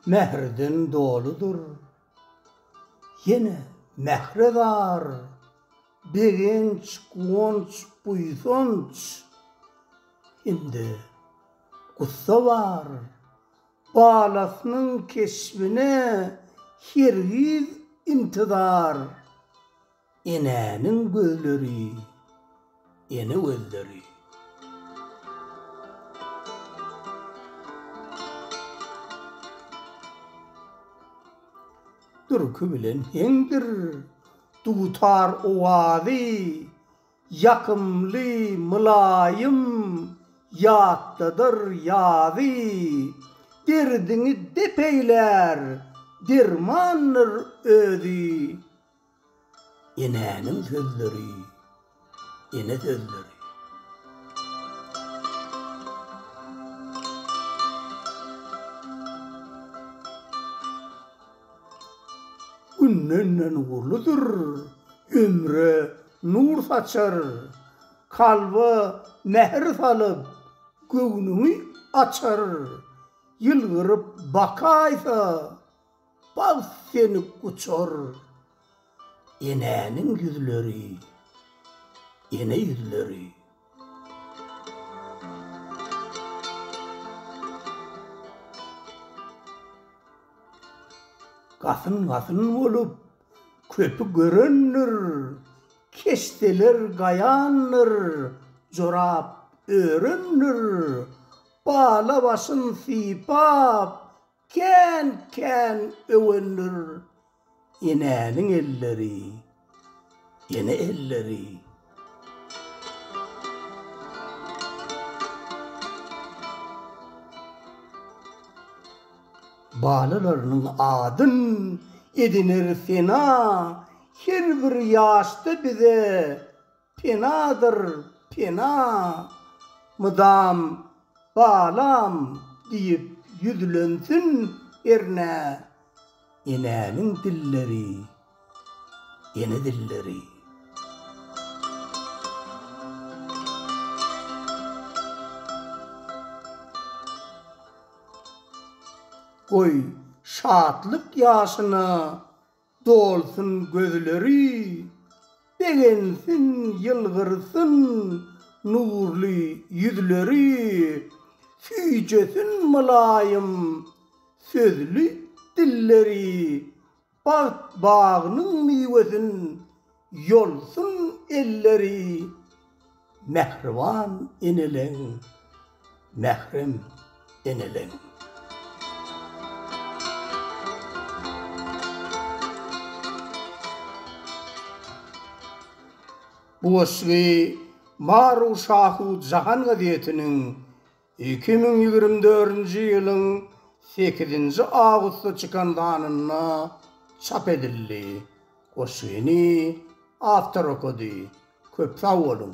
Mährden doludyr ýene mähre zar, Begenç, guwanç, buýsanç hem-de gussa bar. Balasynyň keşbine hergiz intizar. Enäniň gözleri, ene gözleri. Durky bilen heňdir dutar owazy. Ýakymly, mylaýym ýatladyr ýazy. Derdiňi dep eýlär, dermandyr özi. Enäniň sözleri, ene sözleri. Günden-nen uludyr ömre Nur saçar, kalba mähir salyp, göwnüňi açar. Ýylgyryp bakaýsa, bagt seni guçar. Enäniň ýüzleri, ene ýüzleri. Gasyn-gasyn bolup, Köpi görendir, keşdeler gaýandyr, jorap örendir, bala başyn sypap, kän-kän öwendir. Enäniň elleri, ene elleri. Balalarynyň adyn ediner sena, Her bir ýaşda bize penadyr pena. Mydam Balam diýip ýüzlensin ernä, Enäniň dilleri. Ene dilleri. Goý, şatlyk ýaşyna dolsun gözleri, Begensin, ýylgyrsyn nurly ýüzleri, Süýjesin mylaýym sözli dilleri, Bagt bagynyň miwesin ýolsun elleri Mähriban eneleň, mährem eneleň. Bu goşgy Maru Şahu Jahan gazetiniň Iki müň ýigrimi dördünji ýylyň sekizinji awgustda çykan sanynda çap edildi. Goşgyny awtor okady. Köp sag boluň!